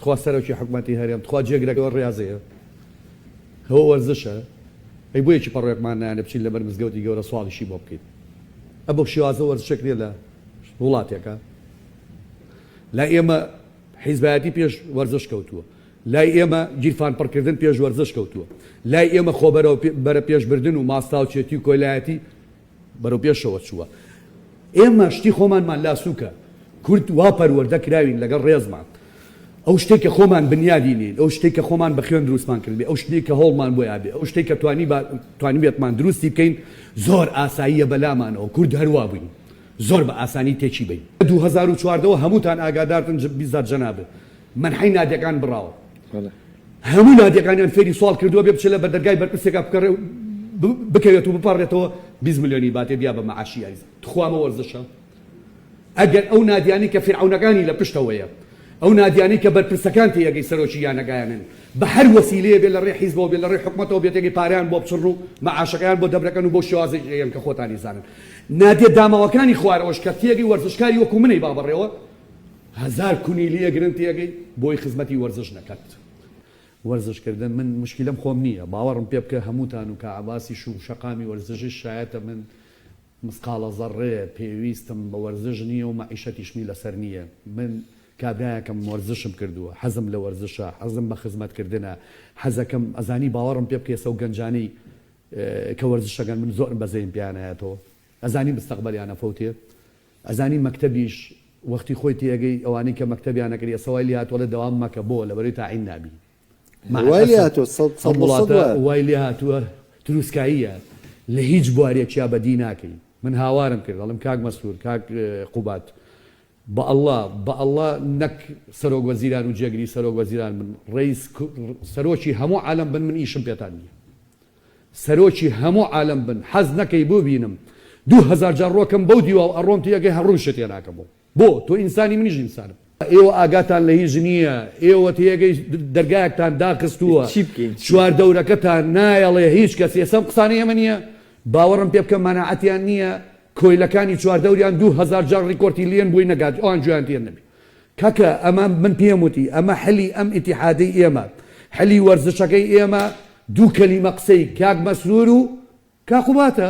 تخوا سەرۆکی حکومەتی هەرێم تخوا جێگرە ئەوە ڕازەیە هەوە وەرزشە ئەی بۆ یەکی پەڕۆێکمان نانە بچین لەبەر مزگەوتی گەورە سواڵیشی بۆ بکەیت ئە بۆ شێوازە وەرزشێک نیە لە وڵاتێکە لا ئێمە حیزبایەتی پێش وەرزش کەوتووە لای ئێمە گیرفان پڕکردن پێش وەرزش کەوتووە لای ئێمە خۆبەرەوە بەرە پێشبردن و ماستاوچێتی و کۆلایەتی بەرەو پێشەوە چووە ئێمە شتی خۆمانمان لا سوکە کورد وا پەروەردە کراوین لەگەڵ ڕێزمان ئەو شتێک کە خۆمان بنیادی نین ئەو شتێک کە خۆمان بە خوێن دروستمان کردێ ئەو شتێک کە هەوڵمان بۆ یابێ ئەو شتێک کە توانی توانیبێتمان دروستی بکەین زۆر ئاساییە بەلامانەوە کورد هەروا بووین زۆر بە ئاسانی تێکی بین 2014ەوە هەمووتان ئاگادارتن بیزار جەنابت منحی نادەکان بڕاوە هەموو نادیەکانیان فێری سواڵ کردووە بێ بچێلە بەردەرگای بەرپرسێکا بکەڕێ و بکەوێت و بپەڕێتەوە بیست ملیۆنی باتێ بیا بە مەعاشی یاریزان تخوا ئەمە وەرزشە ئەگەر ئەو نادیانەی کە فیرعەونەکانی لە پشتەوەیە ئەو نادیانەی کە بەرپرسەکان تێیەگەی سەرۆکی یانەگایانن بە هەر وەسیلەیە بێ لە ڕێ حیزبەوە بێ لە ڕێ حکومەتەوە بێ تێگەی پارەیان بۆ بچڕن و مەعاشەکەیان بۆ دەبرەکەن و بۆ شێوازێکیان کە خۆتانی زانن نادیە داماوەکانی خوارەوەش کە تێگەی وەرزشکاری وەکو منەی بابەڕێوە هەزار کونی لیە گرن تێگەی بۆی خزمەتی وەرزش نەکەت وەرزش کردن من مشکلەم خۆم نیە باوەڕم پێ بکە هەمووتان و کاعەباسیش و شەقامی وەرزشیش شایەتە من مسقاڵە زەڕێ پێویستم بە وەرزش نیە و مەعیشەتیشمی لەسەر نیە من کابرایەکم وەرزشم کردووە حەزم لە وەرزشە حەزم بە خزمەت کردنە حەزەکەم ئەزانی باوەڕم پێ بکە ئێستا و گەنجانی کە وەرزشەکەن من زۆرم بەزەیم پێیان ئەیەتەوە ئەزانی مستەقبەلیان ئەفەوتێ ئەزانی مەکتەبیش وەختی خۆی تێ ئەگەی ئەوانەی کە مەکتەبیان نەکرد ئێستا وای لێهاتوە ئەڵێ دەوام مەکە بۆ لەبەرەی تاعین نابی مع وای لێ الاسف هاتووە سەد سەد ئەم لە سەد وڵاتە وایە وای لێ هاتوە تروسکاییە لە هیچ بوارێکیا بەدی ناکەی من هاوارم کرد ئەڵێم کاک مەستور کاک قوباد بە اللە بە اللە نەک سەرۆک وەزیران و جێگری سەرۆک وەزیران بن ڕەیس سەرۆکی هەموو عالەم بن من ئیشم پێتان نیە سەرۆکی هەموو عالەم بن حەز نەکەی بوبینم دوو هەزار جار ڕۆکەم بەو دیواو ئەڕۆم تیەگەی هەر ڕووم شت تێناکەمۆ بۆ تۆ ئینسانی منیش ئینسانم. ئێوە ئاگاتان لە هیچ نیە ئێوە تێگەی دەرگایەکتان داخستووە چوار دەورەکەتان نایەڵێ هیچ کەس ئێسە ئەم قسانەی ئێمە نیە باوەڕم پێ بکە مەناعەتیان نیە. کۆیلەکانی چواردەوریان دوو هەزار جار ریکۆرتی لیێن بوی نەگات ئەوان گوێیان تێ نەبی کەکە ئەمە من پێم وتی ئەمە حلی ئەم ئیتیحادەی ئێمە حلی وەرزشەکەی ئێمە دوو کەلیمە قسەی کاک مەسرورو کاقوباتە